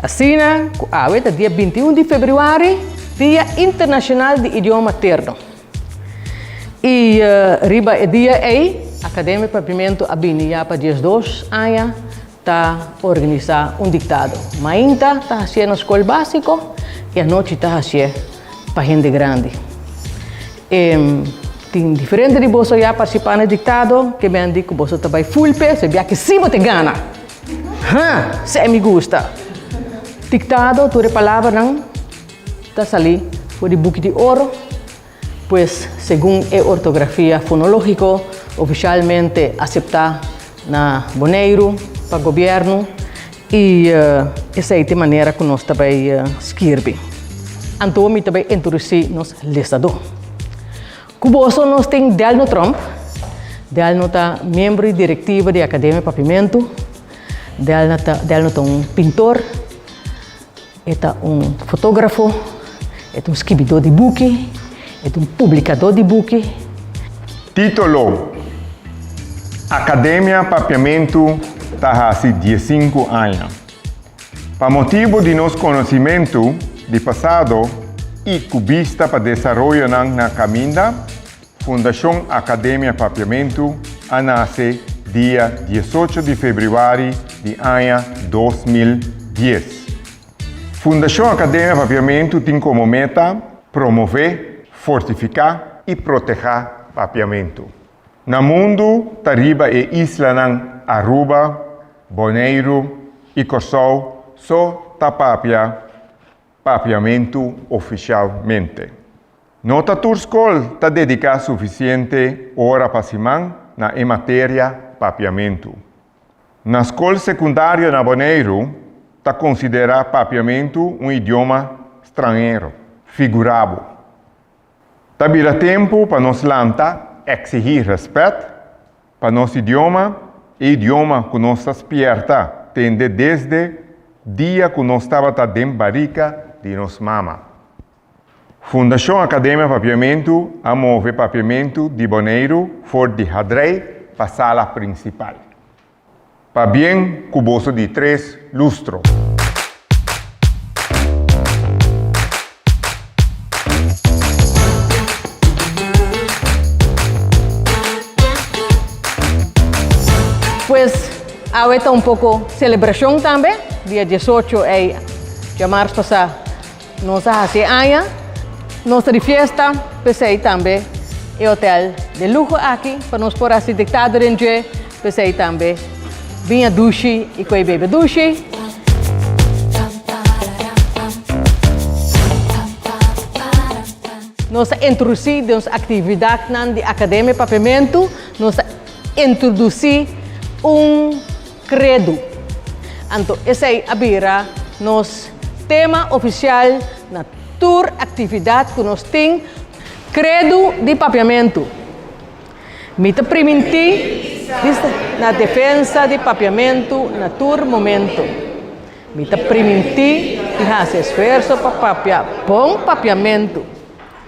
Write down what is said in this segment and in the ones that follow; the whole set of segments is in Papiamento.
Asina ku awe ta dia binti un di febrüari, Dia Internashonal di Idioma Materno. I riba e dia ei, Akademia Papiamentu a bini ya pa diesdos aña ta organisá un diktado. Mainta ta hasié na skol básiko i anochi ta hasié pa hende grandi. E tin diferente di boso ya parsipá na e diktado, ke mende ku boso ta bai full pes, e biaki'sí bo ta gana! Ha! Sey mi gusta! Diktado, tur e palabranan ta sali for di buki di oro, pues segun e ortografia fonológiko ofisialmente aseptá na Boneiru pa gobièrnu i esei ta e manera ku nos ta bai skirbi. Anto mi ta bai introdusí nos listadó. Ku boso nos tin Delno Tromp. Delno ta miembro di direktiva di Akademia Papimentu. Delna ta, Delno ta un pintor, e ta un fotografo, e ta un skibidó di buki, e ta un publikadó di buki. Títolo, Akademia Papiamentu ta hasi diesinku aña. Pa motibu di nos konosimentu di pasado i ku bista pa desaroyonan na kaminda, Fundashon Akademia Papiamentu a nase dia dies ocho di febrüari di aña dos mil dies. Fundashon Akademia Papiamentu tin komo meta promové, fortifiká i protehá papiamentu. Na mundu ta riba e islanan Aruba, Boneiru i Kòrsou so ta papia Papiamentu ofisialmente. No ta tur skol ta dediká sufisiente ora pa siman na e materia Papiamentu. Na skol sekundario na Boneiru ta konsiderá Papiamentu un idioma stranhero. Figurabo, Ta bira tempu pa nos lanta eksihí rèspèt pa nos idioma, e idioma ku nos ta spierta tende desde dia ku nos tabata den barika di nos mama. Fundashon Akademia Papiamentu a move Papiamentu di Boneiru for di Hadrei pa sala prinsipal. Pabien ku boso di tres lustro. Pues awe ta un poko selebrashon tambe, dia diesocho ei dja mars pasá. Nos a hasi e aña nos ta di fiesta, p'esei tambe e hotel de luho aki pa nos por hasi diktado den dje, p'esei tambe biña dushi i koe bebe dushi. Nos a introdusi den nos aktividatnan di Akademia Papiamentu, nos a introdusi un. Credo. Anto esei a bira nos tema oficial na tur actividad cu nos tin. Credo di Papiamento. Mi ta priminti di sta na defensa di Papiamento na tur momento. Mi ta priminti di haci esfuerso pa papia bon Papiamento.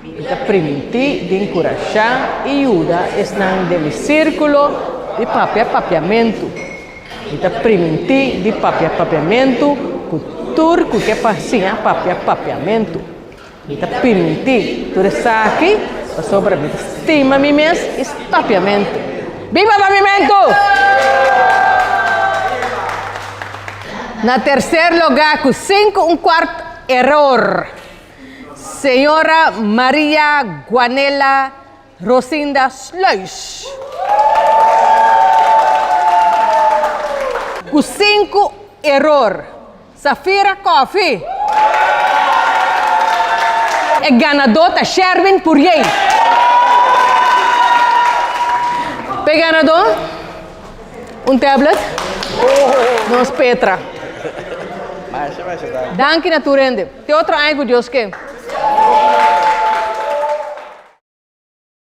Mi ta primintí di enkurashá i yuda esnan den mi sírkulo di papia papiamentu. Mi ta primintí di papia papiamentu ku tur ku ke pasiña papia papiamentu. Mi ta primintí tur esaki pasobra mi ta stima mi mes i stapiamentu. Biba Papiamentu! Na terser lugá ku sinku un kuart eror. Señora Maria Guanella Rosinda Sluis. Cu cinco error. Safira Coffee. E ganador ta Sherwin Poirier. P'e ganador un tablet. Nos Petra. Danki na tur hende. Te otro aña cu Dios ke.